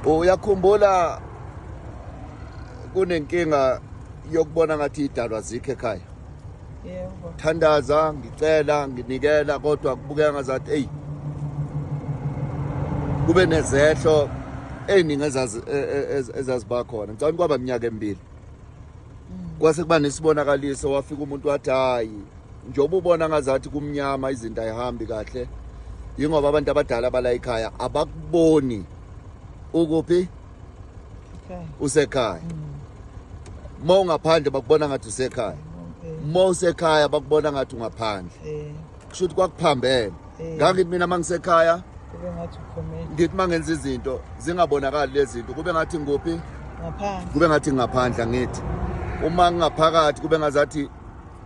uyakhumbula kunenkinga yokubona ngathi idalwa zikho ekhaya yebo thandaza ngicela nginikela kodwa kubukeka ngazathi eyi kube nezehlo eziningi e, e, e, ezaziba khona ngicabanga kwaba minyaka emibili mm. kwase kuba nesibonakaliso wafika umuntu wathi hayi njengoba ubona ngazathi kumnyama izinto ayihambi kahle yingoba abantu abadala bala ekhaya abakuboni ukuphi usekhaya mm. uma ungaphandle bakubona ngathi usekhaya uma usekhaya bakubona ngathi ungaphandle kusho ukuthi kwakuphambene ngangithi mina uma ngisekhaya ngithi uma ngenza izinto zingabonakali lezi zinto kube ngathi ngikuphi kube ngathi ngingaphandle angithi uma ngingaphakathi kube ngazathi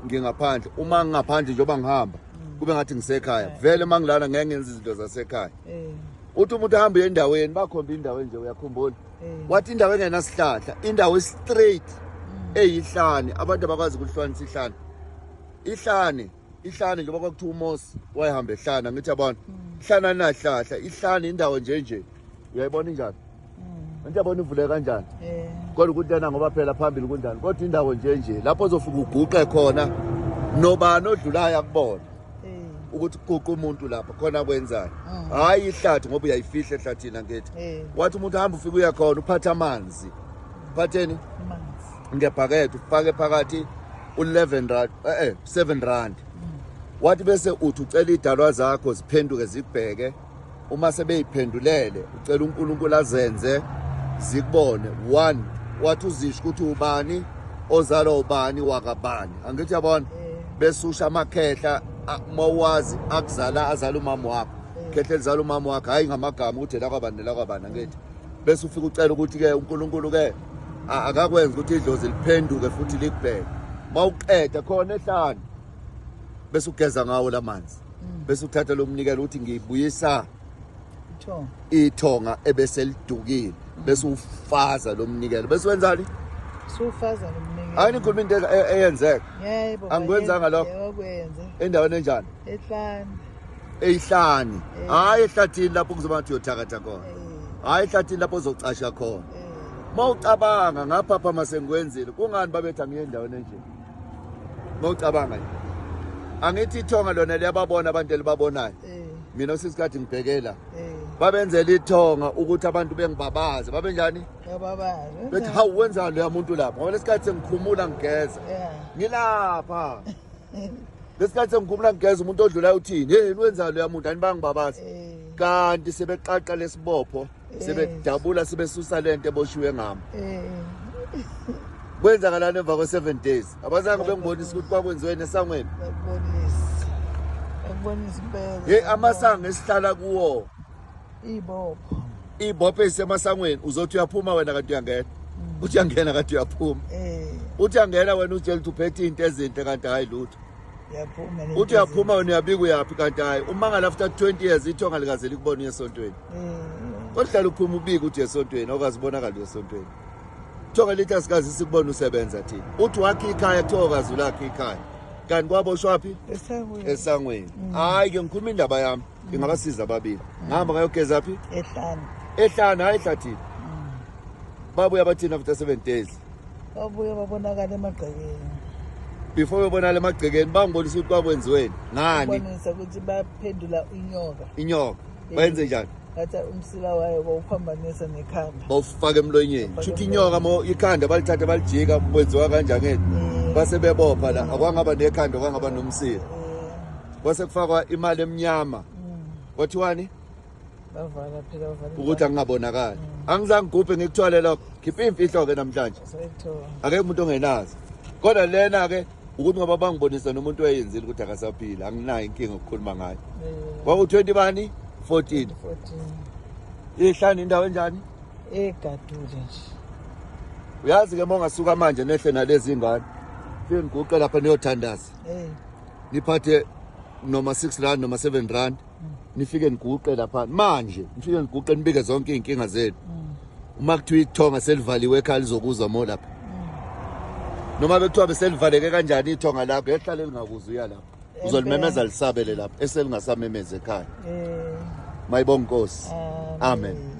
ngingaphandle uma ngingaphandle njengoba ngihamba mm. kube ngathi ngisekhaya eh. vele uma ngilana ngeke ngenza izinto zasekhaya eh. uthi umuntu ahamba uye endaweni bakhomba indawo enje uyakhumbula eh. wathi indawo engenasihlahla indawo straight mm. eyihlane abantu abakwazi ukuhlwanisa ihlane ihlane ihlane njengoba kwakuthiwa umosi wayehamba ehlana ngithi yabona mm. ihlana linahlahla ihlane indawo njenje uyayibona injani hmm. into yabona ivuleke kanjani eh. kodwa ukuthi lena ngoba phela phambili kunjani kodwa indawo nje nje lapho ozofika uguqe khona nobani odlulayo akubona eh. ukuthi kuquqa umuntu lapha khona kwenzani hmm. hhayi ihlathi ngoba uyayifihla ehlathini angithi eh. wathi umuntu hamba ufike uya khona uphathe amanzi uphatheni ngebhakede ufake phakathi u-11 rand eh 7 rand wathi bese uthi ucela idalwa zakho ziphenduke zibheke uma sebeyiphendulele ucela uNkulunkulu azenze zikubone one wathi uzisho ukuthi ubani ozalwa ubani wakabani angithi yabona eh. besusha amakhehla mawazi akuzala azala umama wakho eh. khehla elizala umama wakho hayi ngamagama ukuthi lakwabani lakwabani angithi bese ufika ucela ukuthi ke uNkulunkulu ke akakwenza ukuthi idlozi liphenduke futhi likubheke mawuqeda khona ehlane bese ugeza ngawo lamanzi Mm. bese uthatha lo mnikelo uthi ngibuyisa Tho. ithonga ebese lidukile bese ufaza lo mnikelo bese wenzani Sufaza lo mnikelo. hayi nikhuluma into e- e- eyenzeka Yebo. Angikwenzanga yebo, lokho. yebo, kwenze. endaweni enjani Ehlane. eyihlani Eh. hayi ehlathini lapho kuzoba ngathi uyothakatha khona Eh. hayi ehlathini lapho ozocasha khona Eh. uma ucabanga ngaphapha masengikwenzile kungani babetha ngiye endaweni enje Ngocabanga nje. Angithi ithonga lona liyababona abantu elibabonayo. Eh. Mina usisikade ngibhekela. Eh. Babenzela ithonga ukuthi abantu bengibabaze. Babenjani? Bababaze. Bethi hawu wenza lo yamuntu lapha. Ngoba lesikhathi sengikhumula ngigeza. Yeah. Ngilapha. Lesikhathi sengikhumula ngigeza umuntu odlulayo uthini? Hey, wenza lo yamuntu anibangibabaze. Eh. Kanti sebeqaqa lesibopho. sebedabula sebesusa lento eboshiwe ngami kwenzakalani emva kwe-seven days abazange bengibonisa ukuthi kwakwenziweni esangweni yeyi amasango esihlala kuwo ibopho ibopho ezisemasangweni uzothi uyaphuma wena kanti uyangena mm. uthi uyangena kanti uyaphuma eh. uthi uyangena wena utshela ukuthi uphethe into ezinhle kanti hhayi lutho uthi uyaphuma wena uyabika uyaphi kanti hhayi umangala after 20 years ithonga likaze likubona uyesontweni Kodlala uphuma ubika uthi esontweni okwazi bonakala esontweni. Thoka lithi asikazi sikubona usebenza thina. Uthi wakhe ikhaya thoka zulakhe ikhaya. Kanti kwaboshwaphi? Esangweni. Esangweni. Mm. Hayi ke ngikhuluma indaba yami. Mm. Ngingabasiza ababili. Mm. Ngihamba ngayogeza phi? Ehlana. Ehlana hayi ehlathini. Babuya bathina after 7 days. babuye babonakala emagcekeni before bebonakala emagcekeni bangibonisa ukuthi kwakwenziweni ngani bonisa ukuthi baphendula inyoka inyoka bayenze njani ngathi umsila wayo bawuphambanisa nekhanda bawufaka emlonyeni shuthi inyoka mo ikhanda balithathe balijika kwenziwa kanjani eh. base bebopha la akwangaba nekhanda kwangaba nomsila eh. kwase kufakwa imali emnyama mm. kwathiwani bavala phela bavala ukuthi angingabonakali mm. angizange gubhe ngikuthwale lokho khipha imfihlo ke namhlanje ake umuntu ongenazi kodwa lena ke ukuthi ngoba bangibonisa nomuntu oyenzile ukuthi akasaphila anginayo inkinga ukukhuluma ngayo kwaku 20 bani 14 14 ihlani indawo enjani egadule nje uyazi ke mongasuka manje nehle nalezi ingane fike ngiguqe lapha niyothandaza niphathe noma 6 rand noma 7 rand nifike niguqe lapha manje nifike niguqe nibike zonke izinkinga zenu uma kuthiwa ithonga selivaliwe ekhaya lizokuza mo lapha noma bekuthiwa beselivaleke kanjani ithonga lakho ehlale lingakuza uya lapha uzolimemeza lisabele lapha eselingasamemezi ekhaya eh. mayibonga inkosi amen, amen.